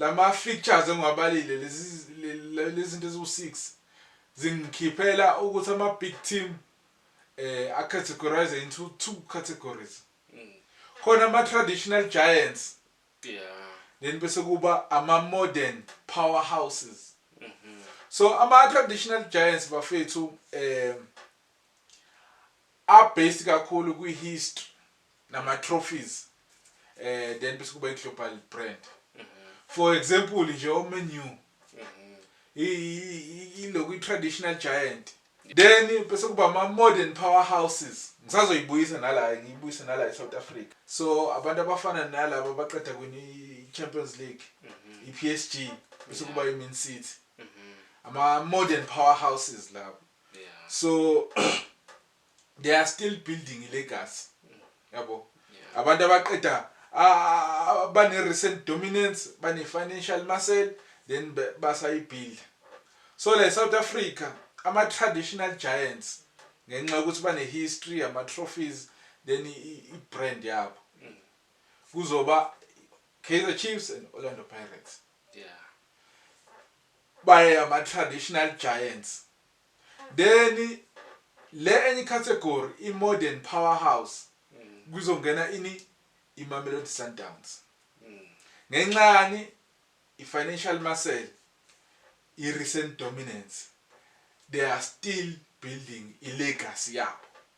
Lama fixtures engiwabalile lezi lezinto eziwu 6 zingikhiphela ukuthi ama big team eh a categorize into two categories. Mm. Khona ama traditional giants. Yeah. Then bese kuba ama modern powerhouses. Mhm. So ama traditional giants bafethu eh a based kakhulu kwi history nama trophies eh then bese kuba i global brand for example nje o Man U iloku i traditional giant then bese kuba ama modern powerhouses ngisazoyibuyisa nala ngiyibuyise nala e South Africa so abantu abafana nalabo abaqeda kwini i Champions League i PSG bese kuba i Man City ama modern powerhouses labo so they are still building i legacy yabo abantu abaqeda bane recent dominance bane financial muscle then basayibuild so like South Africa ama traditional giants ngenxa ukuthi bane history ama trophies then i brand yabo kuzoba Kaizer Chiefs and Orlando Pirates yeah Baye ama traditional giants then le enye category i modern power house kuzongena ini i Mamelodi Sundowns ngenxa yani i financial muscle i recent dominance they are still building i legacy yabo.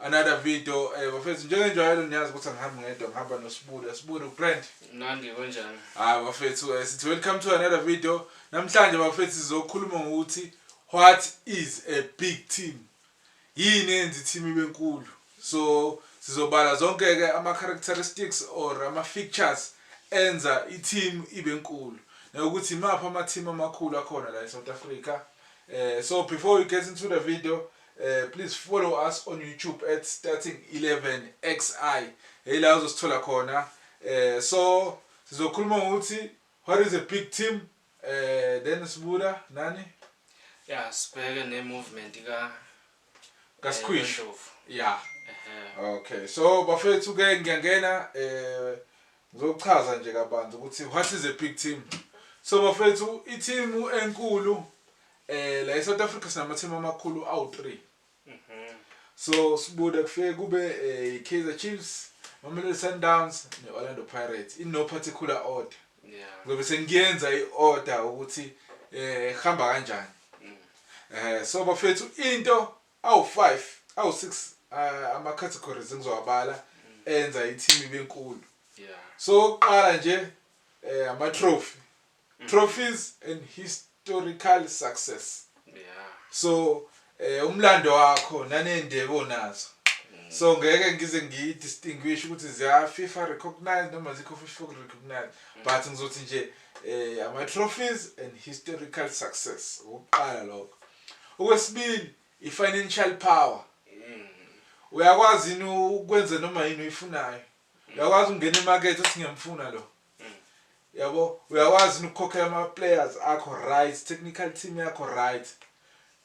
Another video eh bafethu njengenjwayelo niyazi ukuthi angihambi ngedwa ngihamba noSibulo Sibulo ugrand Nandi kunjani Ah bafethu eh, sithi welcome to another video namhlanje bafethu sizokhuluma ngokuthi what is a big team yini enza i-team ibe nkulu so sizobala zonke ke ama characteristics or ama features enza i-team ibe nkulu nokuthi imaphi ama-team amakhulu akhona la e-South Africa eh so before we get into the video Eh please follow us on YouTube at starting 11 xi hey la uzosithola khona eh so sizokhuluma ngokuthi what is a big team eh then sibuda nani yeah sibheke ne movement ka kaSkhwish yeah okay so bafethu ke ngiyangena eh ngizochaza nje kabanzi ukuthi what is a big team so bafethu i team enkulu Eh la eSouth Africa sinama team amakhulu awu3. Mhm. So sibuda kufike kube eh, iKaizer Chiefs, Mamelodi Sundowns neOrlando Pirates in no particular order. Yeah. Ngobe sengiyenza iorder ukuthi eh hamba kanjani. Mm. Eh so bafethu into awu5, awu6 eh, ama categories engizowabala mm. enza i-team ibe nkulu. Yeah. So oqala nje eh ama trophy trophies and historical success so eh umlando wakho nanendebe onazo so ngeke ngize ngiyi distinguish ukuthi ziya FIFA recognized noma zikho FIFA recognized but ngizothi nje eh ama trophies and historical success ukuqala lokho okwesibili i financial power uyakwazi yini ukwenza noma yini oyifunayo uyakwazi ukungena emakethe singemfuna lo yabo uyakwazi ukukhokhela ama players akho right technical team yakho right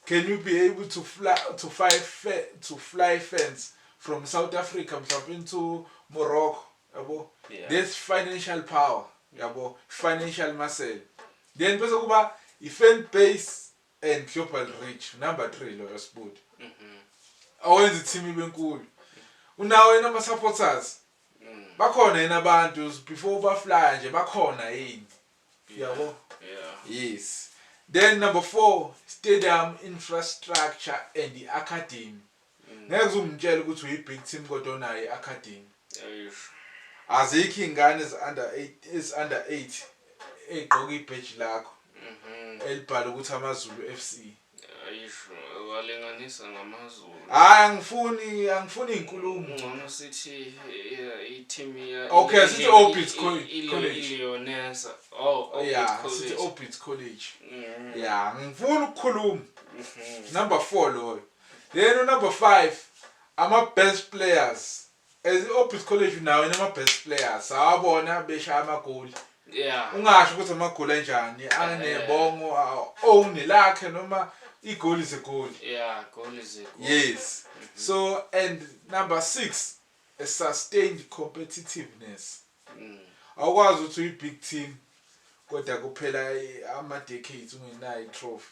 can you be able to fly to fly to fly fans from South Africa mhlawumbe into Morocco yabo yeah. this financial power yabo financial muscle then bese kuba i fan base and global reach number 3 loyo sibudi mhm. awenza i-team ibe nkulu unawo yena ama-supporters mm. bakhona yena abantu before ubaflya nje bakhona yini yabo yes then number four stadium infrastructure and i-academy Ngeke uze ungitshele ukuthi uyi big team kodwa onayo i academy. Eish. Azikho izingane ezi under 8 ezi under 8 egqoka ibheji lakho Mhm. elibhala ukuthi AmaZulu FC. Eish. Walinganisa ngamaZulu. Hayi angifuni angifuni izinkulumo. Ngcono sithi eh, i-team ya Okay, sithi i- Orbit i- Col- i- i- College. Leonesa. Oh, Orbit Yeah, sithi College. Orbit College. Mm, Yeah, ngifuna ukukhuluma. mhm. Number 4 loyo. Then unumber five ama-best players as i-obis college nawo inama-best players sawabona beshaya amagoli yeah ungasho ukuthi amagoli anjani Eh. anebongo own lakhe noma igoli is a goal yeah goal is a goal yes so and number six a sustained competitiveness Mm. awukwazi ukuthi uyi-big team kodwa kuphela i- ama-decades ungenayo i-trophy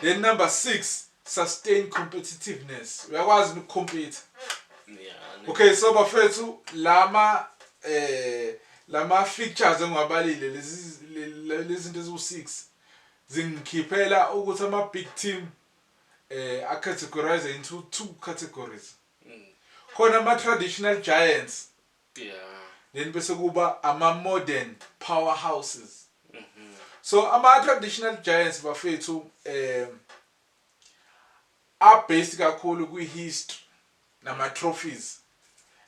Then number 6 sustain competitiveness. Uyakwazi yini ukucompete? Yeah. Okay so bafethu lama eh lama features engiwabalile lezi le- lezinto eziwu-6 zingikhiphela ukuthi ama big team eh acategorize into two categories. Khona ama traditional giants Yeah. Then bese kuba ama modern powerhouses. So ama traditional giants bafethu um a based kakhulu kwi history nama trophies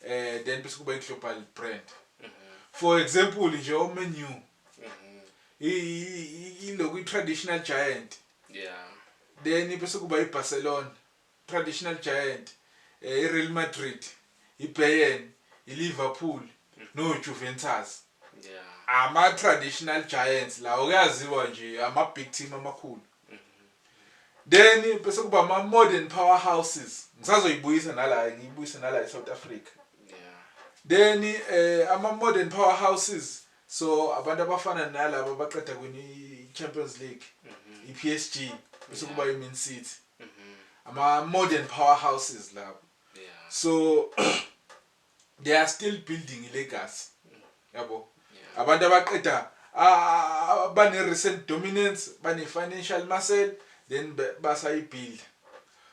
eh then bese kuba i global brand. For example nje o Man U ilokhu i traditional giant. Yeah. Then bese kuba i Barcelona. Traditional giant iReal Madrid, iBayern, iLiverpool noJuventus ama traditional giants lawo kuyaziwa nje ama big team amakhulu. Then bese kuba ama modern powerhouses. Ngisazoyibuyisa nala ngiyibuyise nala eSouth Africa. Then eh ama modern powerhouses So abantu abafana nalaba abaqeda kwini iChampions League, iPSG bese kuba iMan City. Ama modern powerhouses labo. So they are still building ilegacy. Yabo. Abantu abaqeda bane recent dominance, bane financial muscle then basayibuild.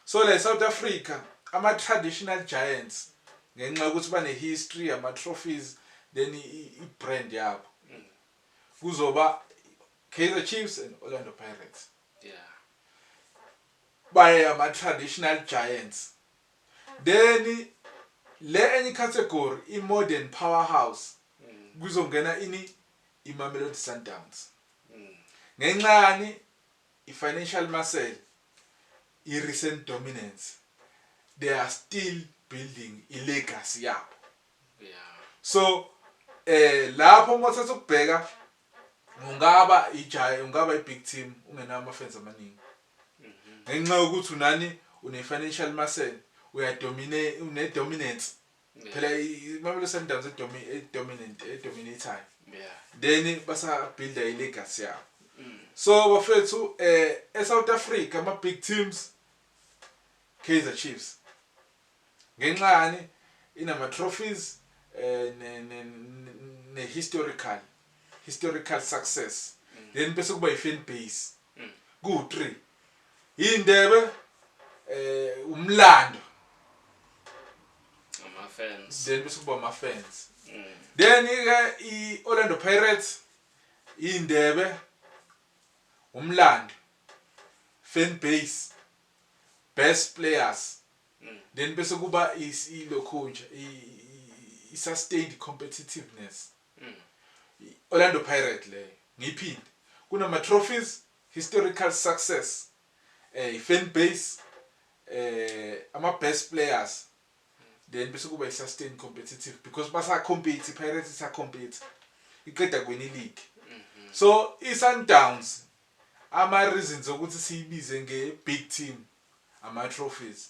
So la eSouth Africa ama traditional giants ngenxa yokuthi bane history, ama trophies then i i brand yabo kuzoba Kaizer Chiefs and Orlando Pirates. Yeah. Baye ama traditional giants. Then le enye category i modern powerhouse kuzongena ini iMamelodi Sundowns. Ngenxani i-financial muscle, i-recent dominance, they are still building i-legacy yabo. So eh lapho uma uthatha ukubheka ungaba ijayi ungaba i-big team ungenawo ama-fans amaningi. Ngenxa yokuthi unani une-financial muscle, uyadominate une-dominance Phela iMamelodi Sundowns edomi edominant edominatayo. Yeah. Then basa build i legacy yabo. Mm. So bafethu eh eSouth Africa ama big teams Kaizer Chiefs. Ngenxa yani inama trophies eh ne ne, ne historical historical success. Mm. Then bese kuba i fan base. Kuwu three. Yindebe eh umlando. Ama fans. Then bese kuba ama fans. Then ke i Orlando Pirates indebe umlando fan base best players then bese kuba ilokhunja i sustained competitiveness I Orlando Pirate leyo ngiyiphinde kunama trophies, historical success, eh i fan base, eh ama best players then bese kuba i sustain competitive because basa compete iPirates isa compete iqeda kuwina ileague. So i Sundowns ama reasons okuthi siyibize nge big team ama trophies.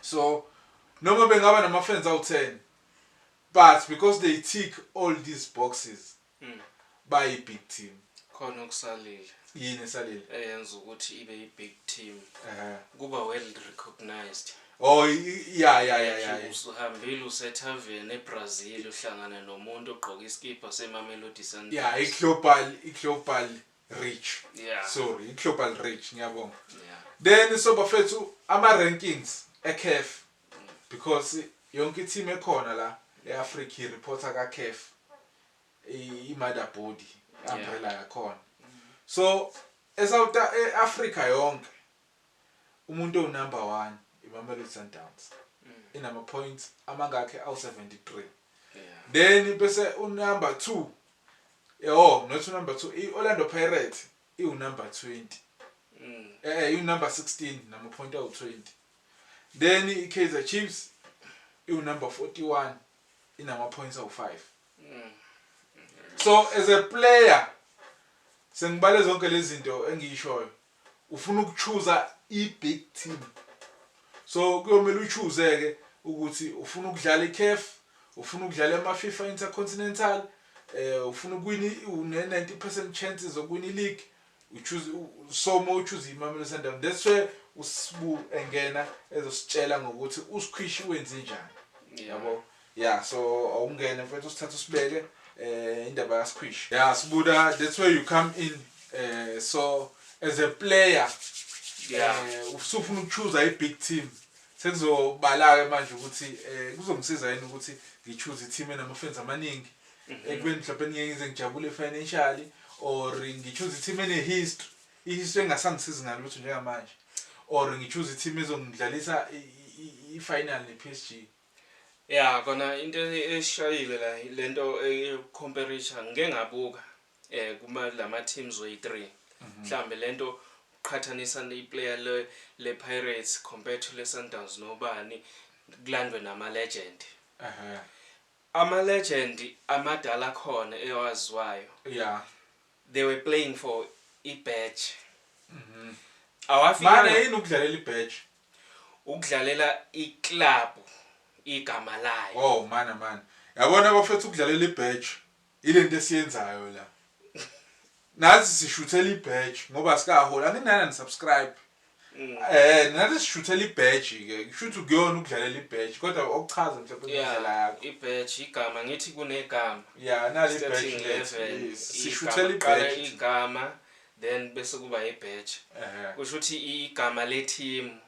So noma bengaba nama friends awu 10 but because they tick all these boxes mm. bayi big team. Khona okusalile. Yini esalile? Eyenza ukuthi ibe i big team. Uh -huh. Kuba well recognized. Oh yeah yeah yeah yeah. Usuhambile usethaveni eBrazil uhlangana nomuntu ogqoka iskipha seMamelodi Sundowns. Yeah, iglobal iglobal reach yeah. sorry i-global reach ngiyabonga yeah. then so bafethu ama-rankings ecaf because yonke i-team ekhona la e-africa ireporta kacaf i-mother body i-umbrella yakhona so e-africa yonke Umuntu owunumber one iMamelodi Sundowns inamapoints amangakhi awu-73 then bese unumber two yho not unumber two i-Orlando Pirates iwunumber 20 e-e iwunumber 16 namapoint awu-20 then iKaizer Chiefs iwunumber 41 inamapoints awu-five. So as a player sengibale zonke lezi zinto engiyishoyo Ufuna ukuchuza i big team. So kuyomele uchuze ke ukuthi ufuna ukudlala i CAF, ufuna ukudlala ema FIFA Intercontinental, eh ufuna ukuwina une 90% chances zokuwina i league. Uchuze so mo uchuze iMamelodi Sundowns. That's where uSbu engena ezositshela ngokuthi uSkwishi wenze njani. Yabo. Yeah so awungene mfethu usithatha usibeke eh indaba ka Squeeze. Yeah Sbuda that's where you come in eh so as a player yeah eh, usufuna ukuchoosa i big team sekuzobala ke manje ukuthi eh kuzongisiza yini ukuthi ngichoose i team enama fans amaningi mhm. ekubeni mhlawumbe ngeke ngize ngijabule financially or ngichoose i team ene history i history engasangisizi ngalutho njengamanje or ngichoose i team ezongidlalisa i final ne PSG Ya kona into eshayile la lento eyokucomparator ngike ngabuka eh kuma lama teams oyi 3 mhm. mhlambe lento uqhathanisa iplayer le le Pirates compared to le Sundowns nobani kulandwe nama legend ehe ama legend amadala khona ewaziwayo yeah They were playing for i badge. Awafikanga. Manje yini ukudlalela i badge? Ukudlalela i club igama layo. Oh mana mana. Yabona bafethu ukudlalela i badge ilento esiyenzayo la. Nathi sishuthela i badge ngoba asikaholi anginana ni subscribe. Eh nathi sishuthela ibadge ke. Kushuthi ukuyona ukudlalela ibadge kodwa okuchaza mhlawumbe indlela yakho. Ibadge igama ngithi kunegama. Yeah nali ibadge lethu. Sishuthela ibadge. Igama then bese kuba ibadge. Kusho ukuthi igama le team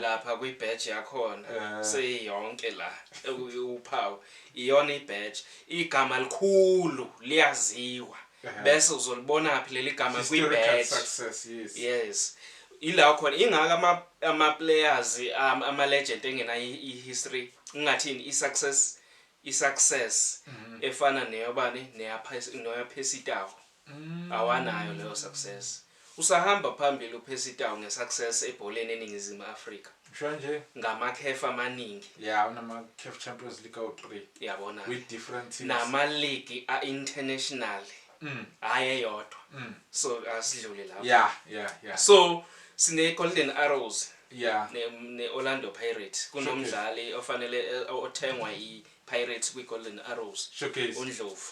lapha kwi badge yakhona seyonke la ewuphawu iyona ibadge. Igama likhulu liyaziwa. bese uzolibonaphi leli gama kwi-badge success yes yes ila khona ingaka ama ama players um, ama legend engena i-history ingathini i-success i-success mhm. efana neyobani neyaphesitawo mhm. awanayo leyo success Usahamba phambili uPercy Tau ngeSuccess ebholeni eNingizimu Afrika. Ngisho nje. Ngamakhefu amaningi. Ya, unamaCaf Champions League awu-three. Yabona-ke. With different teams. Namaligi a-internationally. Mm. Hhayi eyodwa. Mm. So asidlule lapho. Ya, ya, ya. So sineGolden Arrows. Ya. Ne, ne-Orlando Pirates. Kunomdlali ofanele, othengwa iPirates kwiGolden Arrows. Showcase. UNdlovu.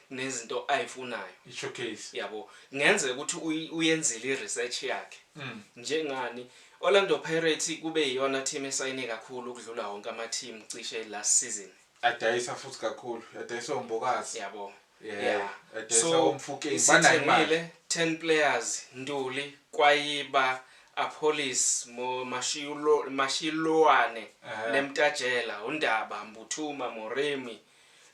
nezinto ayifunayo isho case yabo ngenzeka ukuthi uy- uyenzile i-research yakhe Mm. njengani Orlando Pirates kube iyona team esayine kakhulu ukudlula wonke ama-team cishe last season adayisa futhi kakhulu adayisa ombokazi yabo Yeah, Yeah. adayisa So, omfukeni banayo imali isithengile 10 players Ntuli Kwayiba Apholis Mo- Mashilo- Mashiloane Ehhe. Lemtajela uNdaba Mbuthuma Moremi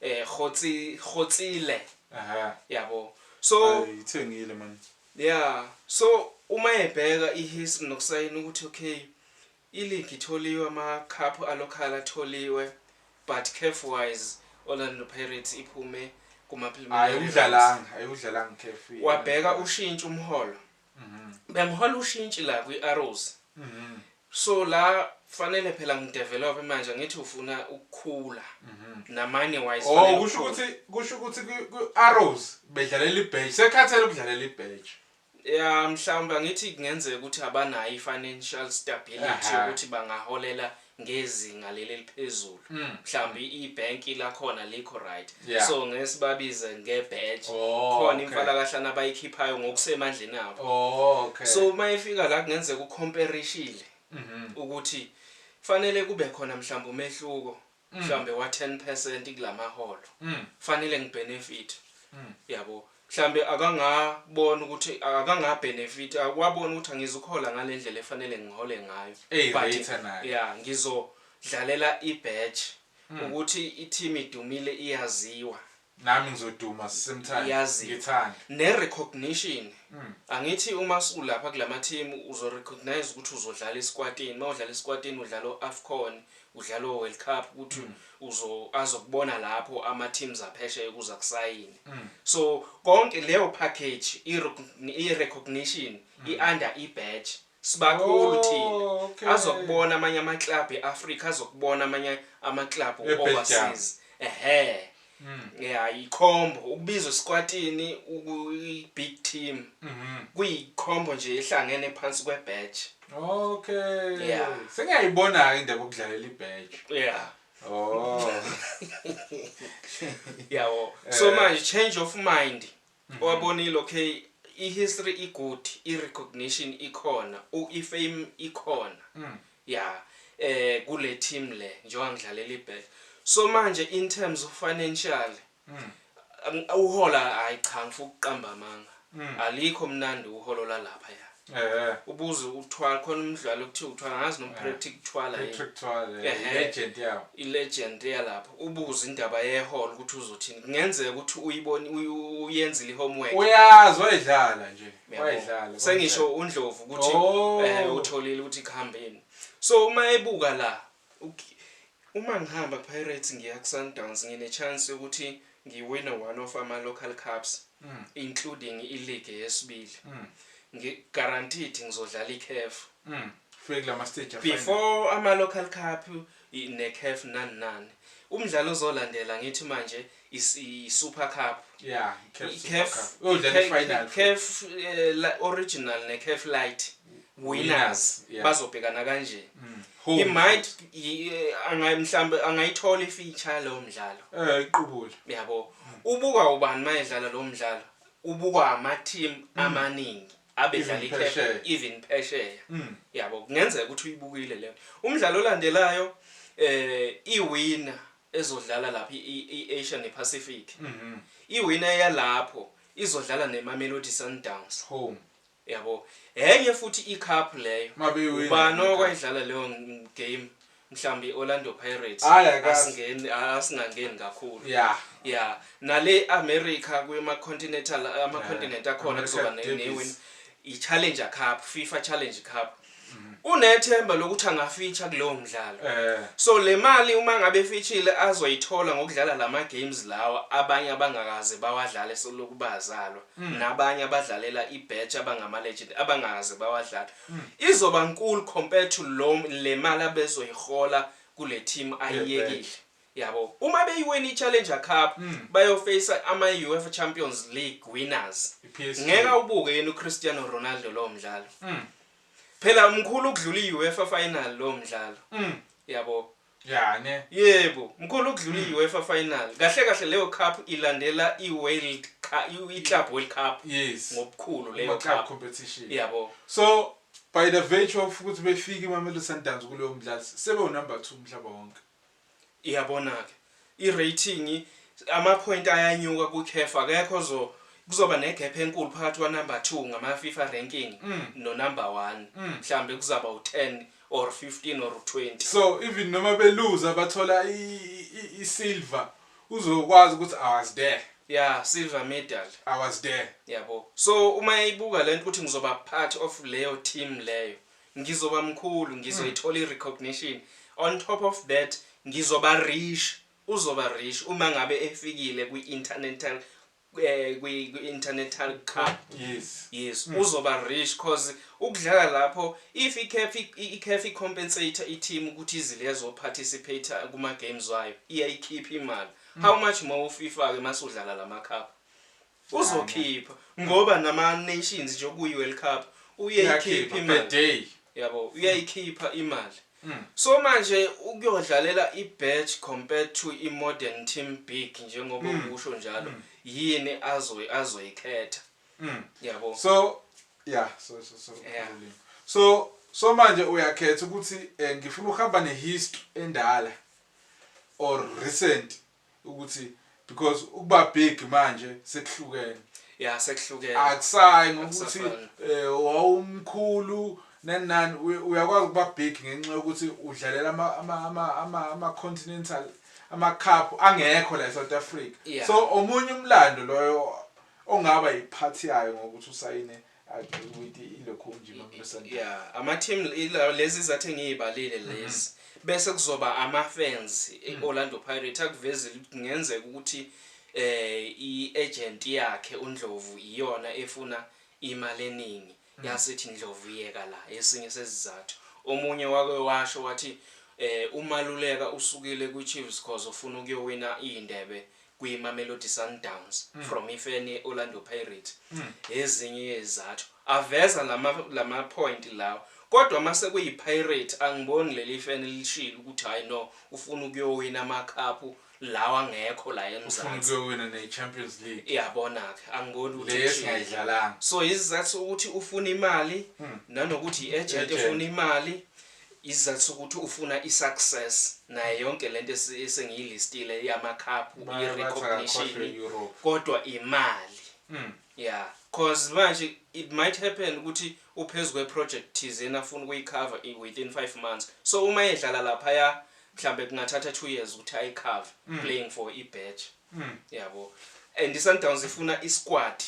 eh khotsi khotsile aha yabo so ithengile man yeah so uma ebheka ihistory nokusayina ukuthi okay iligi itholiwe ama-cup alocal atholiwe but caf wise orlando pirates iphume kuma-preliminaryayikudlalanga ayikudlalanga caf wabheka ushintsha umholo bengihola ushintshi la kwi-arrows so la fanele phela ngidevelop manje ngithi ufuna ukukhula namanye wise oh fanele kusho ukhule. ukuthi kusho ukuthi kwi- kwi-arrows bedlalela ibheji sekhathele ukudlalela ibheji ya mhlawumbe angithi kungenzeka ukuthi abanayo i-financial stability Aha. yokuthi bangaholela ngezinga leli eliphezulu mm. mhlawumbe mm. ibhenki lakhona likho right yeah. so ngeke sibabize ngebadge oh, khona okay. imfalakahlana abayikhiphayo ngokusemandleni abo oh, okay. so uma efika la kungenzeka ucomparishile mm -hmm. ukuthi fanele kube khona mhlawumbe umehluko mm. mhlawumbe wa-10 percent kulamaholo mm. fanele ngibenefit mm. yabo Mhlampe akanga bona ukuthi akanga benefit wabona ukuthi angizukuhola ngalendlela efanele ngihole ngayo but yeah ngizo dlalela i badge mm. ukuthi i team idumile iyaziwa nami ngizoduma same time ngithanda ne recognition mm. angithi uma ulapha kulama team uzo recognize ukuthi uzodlala isikwatini mawudlala isikwatini udlala oAfcon Udlala o World Cup ukuthi uzo azokubona lapho ama teams aphesheya ukuze akusayine. So konke leyo package i recogn- i recognition i under i badge sibakhulu thina. Oh, okay. Azokubona amanye ama club e Africa azokubona amanye ama club Ebhejama. overseas. Ehhe. Mm. Yeah, yikhombo ukubizwa sikwatini uyi-big team. Mhm. Kuyikhombo nje ehlangene phansi kwe-badge. Okay. Yeah. Sengiyayibona-ke indaba yokudlalela i-badge. Yeah. Oh. Yabo. So Eh. manje change of mind Owabonile okay I history I good I recognition ikhona u I fame ikhona ya eh kule team le njengoba ngidlalela iBet so manje in terms of financial uhola hayi cha ngifuna ukuqamba amanga alikho mnandi uholo lalaphaya. Eh. Ubuze ukuthwala khona umdlalo kuthiwa uthwala ngazi noma eh. Patrick Thwala. Patrick Thwala. Eh, legend yawo. I legend yalapha. Ubuze indaba ye hall ukuthi uzothini. Kungenzeka ukuthi uyiboni uyenzile homework. Uyazi wayidlala nje. Wayidlala. Sengisho uNdlovu ukuthi oh. eh utholile ukuthi kuhambeni. So uma ebuka la Okay uma ngihamba Pirates ngiya kuSundowns ngine chance yokuthi ngiwine one of ama local cups including ileague yesibili ngi guaranteed ngizodlala iCaf Ufike kulama stage afana. Before ama local cup neCaf nani nani. Umdlalo ozolandela ngithi manje i-Super Cup. Yeah, i-CAF Super Cup. Uyodlala i-final. CAF eh, original ne-CAF light winners yeah. bazobhekana kanje. Mm. He might eh, angayi mhlambe angayithola i-feature lo mdlalo. Eh, iqubula. Yabo. Mm. Ubuka ubani mayedlala lo mdlalo? Ubuka ama-team mm. amaningi. abedlala i-CAF even phesheya. Mm. Yabo, kungenzeka ukuthi uyibukile leyo. Umdlalo olandelayo eh iwina ezodlala lapha i-Asia nePacific. Iwina yalapho izodlala neMamelodi Sundowns. Home. Yabo. Enye futhi iCup leyo. Mabewina. Ubani okwayidlala leyo game? Mhlambi iOrlando Pirates. Hayi akazi. Asingeni asingangeni kakhulu. Yeah. Yeah. Nale America kwema continental ama continent akhona kuzoba newin. yiChallenger Cup, FIFA Challenge Cup. Unethemba lokuthi angafitsha kulowo mdlalo. Eh. So le mali uma ngabe efitshile azoyithola ngokudlala lama games lawa abanye abangakaze bawadlale seloku bazalwa Mm. nabanye abadlalela ibatch abangama legend abangakaze bawadlala. Mm. Izoba nkulu compared to lo le mali abezoyihola kule team ayiyekile. Yabo uma beyiwina iChallenger Cup bayo face ama UEFA Champions League winners iPSG. ngeke awubuke yini uCristiano Ronaldo lowo mdlalo. Phela mkhulu ukudlula iUEFA final lowo mdlalo. Yabo. Ya ne. Yebo, mkhulu ukudlula iUEFA final. Kahle kahle leyo cup ilandela iWorld Cup iClub World Cup Yes. ngobukhulu leyo Ama club cup. competition. Yabo. So by the virtue of ukuthi befike iMamelodi Sundowns kuleyo mdlalo sebewunumber 2 umhlaba wonke. Iyabona ke I rating ama point ayanyuka ku caf akekho ozo kuzoba ne gap enkulu phakathi kwa number two ngama fifa ranking no number one mhlambe kuzaba u 10 or 15 or 20. So even noma be luza bathola I silver uzokwazi ukuthi I was there. Ya silver medal. I was there. Yabo so uma eyibuka lento ukuthi ngizoba part of leyo team leyo ngizoba mkhulu ngizoyithola i recognition on top of that ngizoba rich uzoba rich uma ngabe efikile kwi international eh, kwi international cup yes yes mm. uzoba rich cause ukudlala lapho if iCAF iCAF icompensator iteam ukuthi izilezo participate kuma games wayo iyayikhipha imali mm. how much more uFIFA ke masudlala lama cup Uzokhipha ngoba nama nations nje okuyi World Cup uyeyikhipha imali. Yabo uyayikhipha imali. Mm. So manje ukuyodlalela ibatch compared to imodern team big njengoba mm. ukusho njalo mm. yini azoyi azoyikhetha. Mm. Yabo. So yeah so so so. Yeah. So so manje uyakhetha ukuthi eh, ngifuna ukuhamba nehistory endala or recent ukuthi because ukuba big manje sekuhlukene ya sekuhlukene akusayi ngokuthi eh, wawumkhulu nanani uyakwazi ukuba big ngenxa yokuthi udlalela ama ama ama ama, ama continental ama cup angekho la eSouth Africa yeah. so omunye umlando loyo ongaba yiphathi yayo ngokuthi usayine yeah ama-team lezi zathi ngiy'balile mhm. lezi bese kuzoba ama-fans e-orlando mhm. pirate akuvezile ukuthi kungenzeka ukuthi eh i-agent yakhe undlovu iyona efuna imali eningi mhm. yasithi ndlovu yeka la esinye sezizathu omunye wake washo wathi eh umaluleka usukile kwi-chiefs cause ufuna ukuyowina iy'ndebe kwiMamelodi Sundowns from ifeni Orlando Pirates ezinye yezizathu aveza lama lama point lawa kodwa mase kuyi Pirates angiboni leli feni elishilo ukuthi hayi no ufuna ukuyowina ama cup lawa angekho la eMzansi ufuna ukuyowina ne Champions League yabona ke angiboni ukuthi le esingayidlalanga so izizathu ukuthi ufuna imali nanokuthi i agent efuna imali Isizathu sokuthi ufuna i success nayo yonke lento esengiyilistile yama cup i recognition kodwa imali. Mm. Yeah. Cause manje it might happen ukuthi uphezulu kwe project thizeni afuna ukuyi cover within 5 months. So uma edlala lapha ya mhlambe kungathatha 2 years ukuthi ayi cover mm. playing for i badge. Mm. Yabo. And iSundowns ifuna isquad.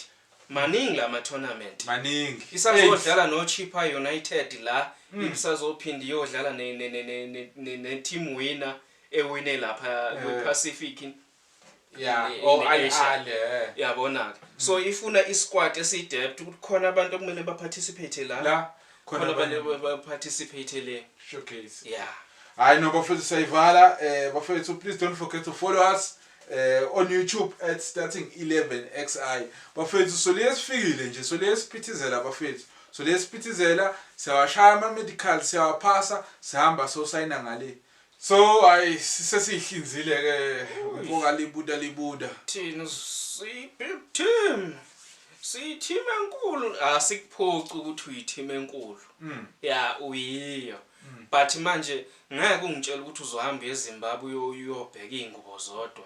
Maningi lama tournament. Maningi. Isazodlala no Chippa United la, mm. isazophinda iyodlala ne ne ne ne ne, ne team winner ewine lapha yeah. kwi Pacific. Yeah, oh I ale. Eh. Yabona ke. So ifuna isquad esidepth ukuthi khona abantu okumele ba participate la. La. Khona khona abanye abanye- ba- ba- participate le Showcase. yeah Hayi no bafethu sayivala eh bafethu please don't forget to follow us eh on YouTube at starting 11xi. Bafethu soliye sifikile nje soliye siphithizela bafethu. Soliye siphithizela siyawashaya ama medical siyawaphasa sihamba so signa ngale. So ay sesihlinzile ke ubonga libuda libuda. Thina siphi team? Siyithima enkulu asikuphoci ukuthi uyithima enkulu. Mm. Ya uyiyo. Mm. But manje ngeke ungitshela ukuthi uzohamba eZimbabwe uyobheka izingubo zodwa.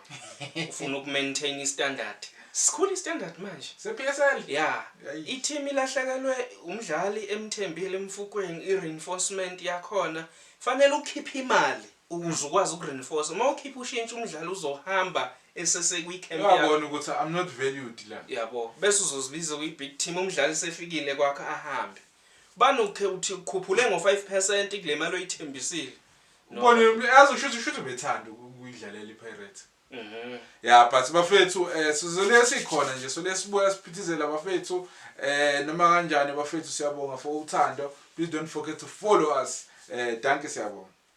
Ufuna ukumaintain istandard. Sikhulu istandard manje. SePSL? Ya. Iteam ilahlekelwe umdlali emthembile emfukweni ireinforcement yakhona Fanele ukhiphe imali ukuze ukwazi uku reinforce uma ukhipha ushintshi umdlali uzohamba esesekwi camp yakho. Uyabona ukuthi I'm not valued la. Yabo bese uzozibiza kwi big team umdlali sefikile kwakho ahambe. Bani ukhe uthi ukhuphule ngo 5% kulemali oyithembisile. Ubonile uyazi ushuthi ushuthi ubethanda ukuyidlalela iPirates. Mhm. Yeah but bafethu eh sizole sikhona nje so lesibuya siphithizela bafethu eh noma kanjani bafethu siyabonga for uthando please don't forget to follow us eh danke siyabonga